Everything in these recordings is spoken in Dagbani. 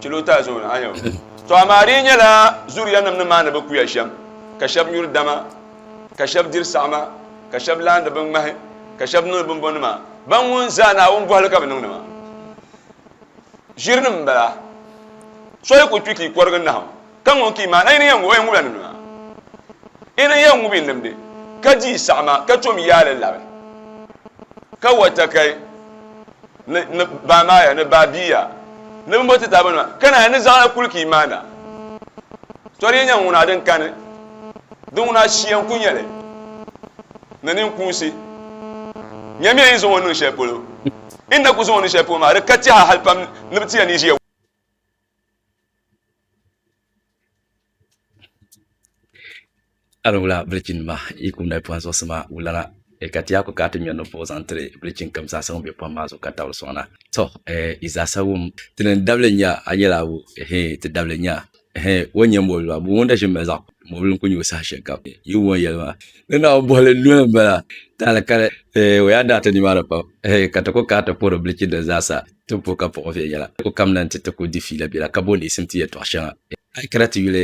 Kilota zone a yɛn To amaa di yi nyɛla zuriya nim ni maani bi kuya shɛm, ka shɛb nyuri dama, ka shɛb diri saɣima, ka shɛb laandi binŋmahi, ka shɛb niŋdi bimbɔnima, ban ŋun zaa Naawuni bɔhili ka bɛ niŋdi maa. Ʒirinim m-bala. So yi ku kpi ka yi kɔrigi nahim. Ka ŋun ki maa, a yi ni yɛn ŋub o, yɛn ŋubila ni nɔya. Yi ni yɛn ŋubi n-limdi, ka di saɣima, ka chom yaa li labi, ka wa takai ni ni baa maa ya, ni baa bia ya, ni bimbo ti taaba nima, ka naanyi ni zaɣila kul ki yi maa na. Tɔ di yi nya ŋuna din kani, di ŋuna shia n-kul nya li, ni ninkuunsi. Nyamiya yi ni zaŋ o niŋ shɛli polo, yi ni na kul zaŋ o niŋ shɛli polo maa, di ka tɛha hal pam ni bɛ ti ya ni yi ʒiya. A ni wula bilichi nima yi kum dali pɔhim zuɣusi maa wulana ka ti yaa ku kana ti ŋmɛri niŋ puhi zaŋ tiri bilichi n kam zaasa ŋun bɛ pɔhim maa zuɣu ka tabili sɔŋna to yi zaasa wum ti ni dabili nya a nyɛla abu ti dabili nya o nyɛ mɔbili maa ŋun da ʒin mali zaɣi mɔbili n ku nyɛ o saha shɛli kam yi wum o ni yɛli maa ni naawuni bɔhili n noli n bala taali kali o yaa daa ti ni maa ni pam ka ti ku kana ti puhiri bilichi nima zaasa Ti bo ka buɣi viɛnyɛla ti ku kamina nti ti ku di fiila biɛla ka bo leesim ti yɛtɔɣ shɛŋa. A yi kana ti yuli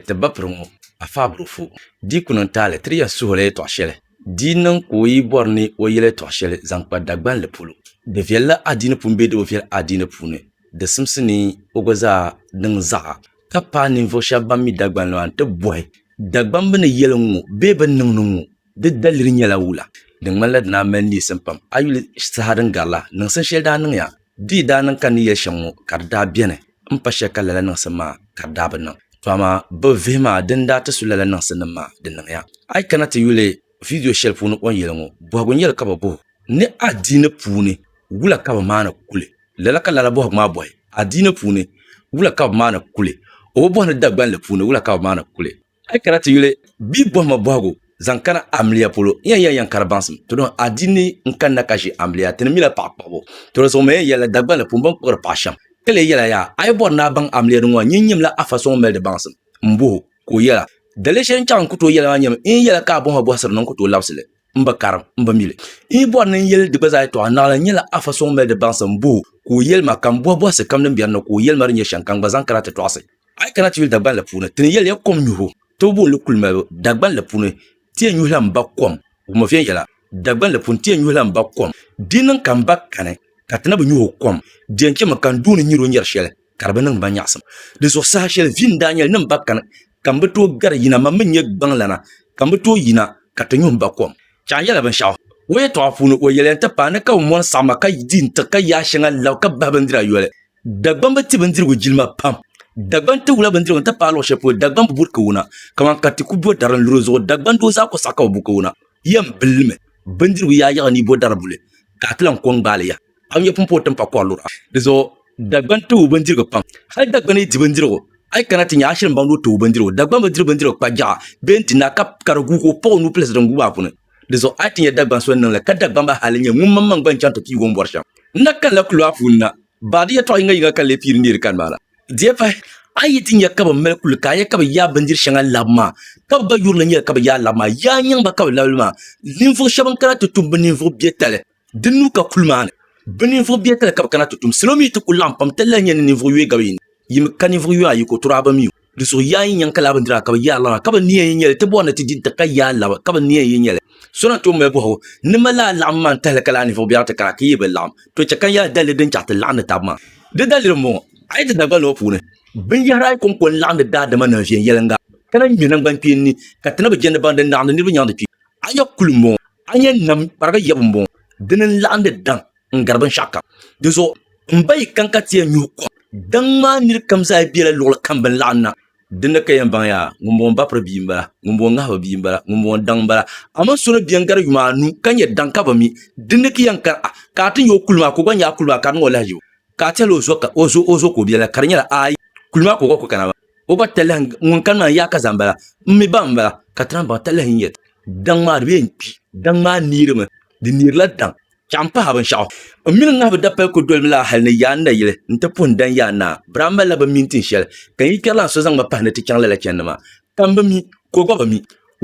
ti bapiri ŋɔ, a faabiri o fu. Di yi ku niŋ taali, tiri ya suhili yɛtɔɣ shɛli. Di yi niŋ ka o yi bɔri ni o yɛl yɛtɔɣ shɛli zaŋ kpa Dagbanli polo, di viɛlila a dini pun bee di bi viɛl a dini puuni, di simsi ni o gba zaa niŋ zaɣa. Ka paai ninvuɣ shɛb bɛn mi Dagbanli maa nti bɔhi, Dagbamba ni yɛli ŋ-ŋɔ bee bɛ ni niŋ ni ŋ-ŋɔ? Di daliri nyɛla wula din ŋmanila di daa mali neesim pam. A yuli saha din garila, niŋsim shɛli daa niŋya. Di yi daa niŋ ka ni yɛli shɛm ŋɔ ka di daa beni m-pa shɛli ka lala niŋsim maa ka di daa bi niŋ. To amaa bɛ vihi maa di ni daa ti su lala niŋsinim maa di niŋya. A yi kana ti yuli vidiyo shɛli puuni o ni yɛli ŋɔ, bɔhigu n-nyɛli ka bɛ bɔh o ni adiini puuni wula ka bɛ maani kuli. Lala ka lala bɔhigu maa bɔhi adiini puuni wula ka bɛ maani kuli. O bi bɔhi ni Dagbanli puuni wula ka bɛ maani kuli. A yi kana ti yuli bia bɔhima bɔhigu zaŋ kana amiliya polo, n yan yɛli yan kari baŋsim tɔdɔn adiini n-kanna ka ʒi amiliya, ti ni mila paɣa kpuɣibu. Tɔdɔn sɔŋ maya yɛlila Dagbani ni pun bɔŋ kpuɣiri paɣa shɛm. Ka lee yɛla yaa, a yi bɔri ni a baŋ amiliya di ŋɔ, nyin nyimla afa sɔŋ m-mali di baŋsim m-bɔh o, ka o yɛla, Daliya shɛli n-chaŋ n ku tooi yɛli maa nyɛmi, n yi yɛla ka a bɔhima bɔhisiri ni n ku tooi labisi li, m bi karim, m bi mili. N yi bɔri ni n yɛli di gba zaa yɛtɔɣa, naɣila n nyɛla afa sɔŋ m-mali di baŋsim m-bɔh o, ka o yɛli ma, ka m bɔhi bɔhisi kam din biɛri ni, ka o yɛli ma di nyɛ shɛŋa ka n gba zaŋ kana ti tɔɣisi. A yi kana tibili Dagbanli puuni, ti ni yɛli ya kom nyuhibu, tibi booni li kuli malibu. Dagbanli puuni, ti yɛn nyuhila m ba kom, guma viɛnyɛla. Dagbanli puuni, ti yɛn nyuhila m ba kom. Di niŋ ka m ba kani, ka ti na bi nyuhi o kom. Di yɛn chɛmi ka n duuni nyari o nyari shɛli, ka di bi niŋ ma nyaɣisim. Di zuɣu saha shɛli vi n daa nyɛli ni m ba kani, ka m bi tooi gari yina, man mi nyɛ gbaŋlana, ka m bi tooi yina ka ti nyuhi m ba kom. Chɛɣu yɛla binshɛɣu. O yɛtɔɣa puuni, o yɛliya n-ti paai ni ka o mɔni saɣima ka di n-tiɣi ka yaa shɛŋa lab ka bahi bindira yoli. Dagbaŋ bi ti bindirigu jilima pam. Dagbaŋ ti wula bindirigu n-ti paai luɣ shɛli polo Dagbaŋ bi buri kawuna, kaman ka ti ku bo dari n-luri o zuɣu Dagbaŋ doo zaa kɔ saɣi ka bi bu kawuna. Yɛm bi li mi bindirigu yaa yiɣi ni yi bo dari buli ka a ti lan kɔ n-gbaali ya. A nya pumpɔŋɔ ti ni pa kɔri lura. Di zuɣu Dagbaŋ tibu bindirigu pam. Hal Dagbaŋ ni di bindirigu, a yi kana ti nya a shiri m-baŋdi o tibu bindirigu. Dagbaŋ bi diri bindirigu kpa jiɣa bee n-ti na ka ka di guugi o kpuɣi o nuu pilisi din guui maa puuni. Di zuɣu a yi ti nya Dagbaŋ so ni niŋ li, ka Dagbaŋ maa hali nyɛ ŋun maŋmaŋ gba n-chaŋ ti piigi o ni bɔri shɛm. N na kanila kuliga maa puuni na, baadi yɛtɔɣ yiŋa yiŋa ka n lee piiri neeri kani maa la. Di pahi, a yi ti nya ka bɛ mali kuli ka a nya ka bɛ yaai bindiri shɛŋa labi maa, ka bɛ gba yuri li nyɛli ka bɛ yaai labi maa, yaai nyaŋ ba ka bɛ labi li maa. Ninvuɣ shɛba n-kana ti tum bɛ ninvuɣ biɛtali. Di nuu ka kuli maani bɛ ninvuɣ biɛhi tali ka bɛ kana ti tum. Salo mi ti kul laɣim pam tali lahi nya ni ninvuɣ yoya gabi yi ni. Yi mi ka ninvuɣ yoya ayiko turi a ba mi o. Di suhi yaa yi nyaŋ ka laa bindiraa ka bɛ yaai lana ka bɛ ni yɛn yi nya li, ti bɔri ni ti di nti ka yaai laba ka bɛ ni yɛn yi nya li. So na tooi mali bɔhigu ni ma laa laɣim maa n-tahili ka laa ninvuɣ biɛri ti kana ka yi bi laɣim, to chɛ ka yaai daliri din chɛ a ti laɣindi tab maa. Di daliri m-bɔŋɔ, a yi ti Dagbaŋ ŋɔ puuni, binyɛhiri ayi kɔŋko n-laɣindi daadama ni viɛnyɛliŋga ka na ŋme naŋgbankpeeni ni ka ti na bi jɛndi baŋ din laɣindi niriba nyaŋ di kpi. Anya kuli m-bɔŋɔ, anya nam kpariga yabu m-bɔŋɔ, dini n-laɣim di daŋ n-gari binshɛɣu kam. Dinzuɣu m ba yi kani ka ti yɛn nyuhi kom, daŋ maa nir kam zaa bela luɣili kam bɛ ni laɣim na. Dinni ka yɛn baŋ yaa, ŋumbɔŋɔ m ba piri bia m-bala, ŋumbɔŋɔ ŋahi bi bia m-bala, ŋumbɔŋɔ daŋ m-bala. Amaa so ni beni gari yuma anu ka nyɛ daŋ ka bi mi, dinni ki yɛn kani a, ka a ti nya o kuli maa ka o gba nya a kuli maa ka di niŋ o lahiʒibu, ka a tɛhila o zo ka o zo ka o bela, ka di nyɛla, Aai, kuli maa ka o gba kuli kana maa. o ba talahi ŋun kani maa yaaka zaa n bala n mi ba n bala ka ti naan baŋ talahi n yɛli daŋ maa di bee n kpi daŋ maa neerimi di neerila daŋ chɛɣu n pahi binshaɣu n mini ŋahibu dapali ku dolimi laa hali ni yaa n nayili n ti puhi n daŋ yaa naa bira n malila bi mi n tin shɛli ka n yi kpɛri laa so zaŋ ma pahi ni ti chaŋ lala chɛndi maa ka n bi mi ka o gba bi mi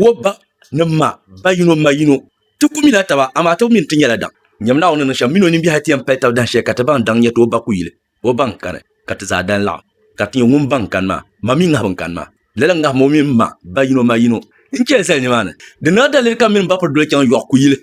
o ba ni ma ba yino ma yino ti ku mila taba amaa ti mi n ti nyɛla daŋ nyɛm Naawuni ni niŋ shɛm mini o nimbihi ti yɛn pali tab dahin shɛli ka ti baŋ daŋ nyɛti o ba ku yili O baŋ kani ka ti zaa dan laɣim, ka ti nyɛ ŋun baŋ kani maa, ma mi ŋahibu n-kani maa. Lala ŋahim o mini ma ba yino ma yino n-chɛ zali nimaani. Di naa daliri ka m mini m ba piri doli chaŋ yɔɣu kuyili.